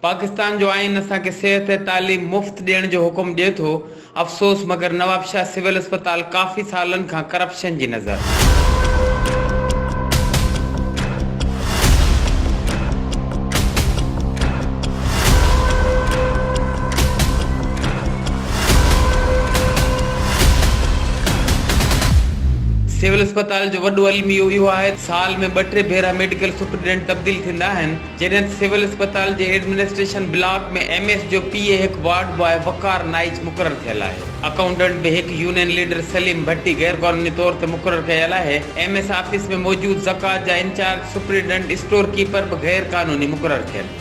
پاڪستان جو آئين اسان کي صحت ۽ تعليم مفت ڏيڻ جو حڪم ڏئي ٿو افسوس مگر نوابشاھ سول اسپتال ڪافي سالن کان ڪرپشن جي نظر. سول اسپتال جو وڏو الميو اهو آهي سال ۾ ٻه ٽي ڀيرا ميڊيڪل سپريڊنٽ تبديل ٿيندا آهن. جنت سول اسپتال جي ايڊمنسٽريشن بلاڪ ۾ ايم ايس جو پي اي هڪ وارڊ باء وقار نائچ مقرر ٿيل آهي اڪائونٽنٽ به هڪ يونين ليڊر سليم ڀٽي غير قانوني طور تي مقرر ڪيل آهي ايم ايس آفيس ۾ موجود زڪوات جا انچارج سپريڊنٽ اسٽور ڪيپر به غير قانوني مقرر ٿيل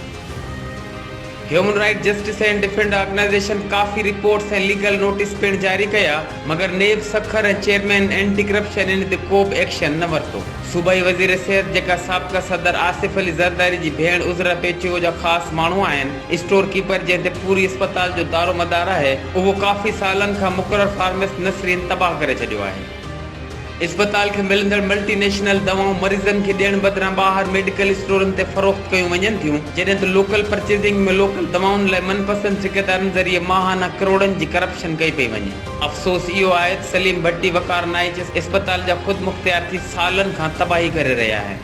human right justice and defend organisation ڪافي رپورٽس ۽ ليگل نوٽيس پڻ جاري ڪيا مگر NAB Sukkur ۽ chairman anti corruption ان تي ڪوبه ايڪشن نه ورتو. صوبائي وزير صحت جيڪا سابقه صدر آصف علي زرداري جي ڀيڻ عذرا پيچويو جا خاص ماڻهو آهن، اسٽور ڪيپر جنهن تي پوري اسپتال جو دارومدار آهي اهو ڪافي سالن کان مقرر فارمسٽ نسرين تباهه ڪري ڇڏيو آهي. اسپتال کي ملندڙ ملٽي نيشنل دوائون مريضن کي ڏيڻ بدران ٻاهر ميڊيڪل اسٽورن تي فروخت ڪيون وڃن ٿيون، جڏهن ته لوڪل پرچيزنگ ۾ لوڪل دوائن لاء من پسند ٺيڪيدارن ذريعي ماهانه ڪروڙن جي ڪرپشن ڪئي پئي وڃي. افسوس اهو آهي ته سليم ڀٽي وقار نائچ اسپتال جا خود مختيار ٿي سالن کان تباهي ڪري رهيا آهن.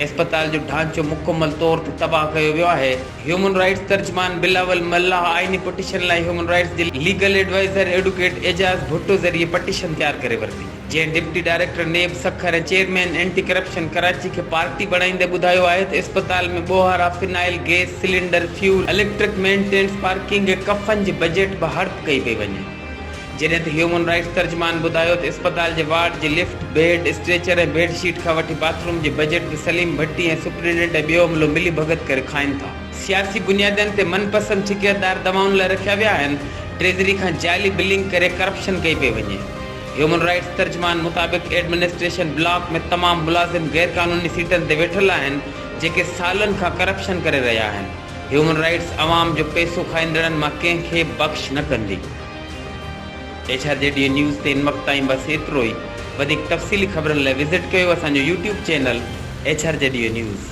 اسپتال جو ڍانچو مڪمل طور تي تباهه ڪيو ويو آهي. هيومن رائٽس ترجمان بلاول ملاح آئيني پٽيشن لاء هيومن رائٽس جي legal adviser advocate Ijaz Bhutto ذريعي پٽيشن تيار ڪري ورتي جنهن deputy director NAB Sukkur ۽ chairman anti corruption Karachi کي پارٽي بڻائيندي ٻڌايو آهي ته اسپتال ۾ ٻوهارا phenyl gas cylinder fuel electric maintenance parking ۽ ڪفن جي بجيٽ به هڙپ ڪئي پئي وڃي. جڏهن ته هيومن رائٽس ترجمان ٻڌايو ته اسپتال جي وارڊ جي lift, bed, stretcher ۽ bed sheet کان وٺي باٿ روم جي بجيٽ به سليم ڀٽي ۽ سپرنٽينڊنٽ ۽ ٻيو عملو ملي ڀڳت ڪري کائين ٿا. سياسي بنيادن تي من پسند ٺڪيدار دوائن لاء رکيا ويا آهن، ٽريزري کان جعلي بلنگ ڪري ڪرپشن ڪئي پئي وڃي. هيومن رائٽس ترجمان مطابق ايڊمنسٽريشن بلاڪ ۾ تمام ملازم غيرقانوني سيٽن تي ويٺل آهن، جيڪي سالن کان ڪرپشن ڪري رهيا آهن. هيومن رائيٽس عوام جو پئسو کائيندڙن مان ڪنهن کي بخش نه ڪندي. H R G D news تي هن وقت تائين بس ايترو ئي. وڌيڪ تفصيلي خبرن لاء وزٽ ڪيو اسان جو YouTube channel H R G D news.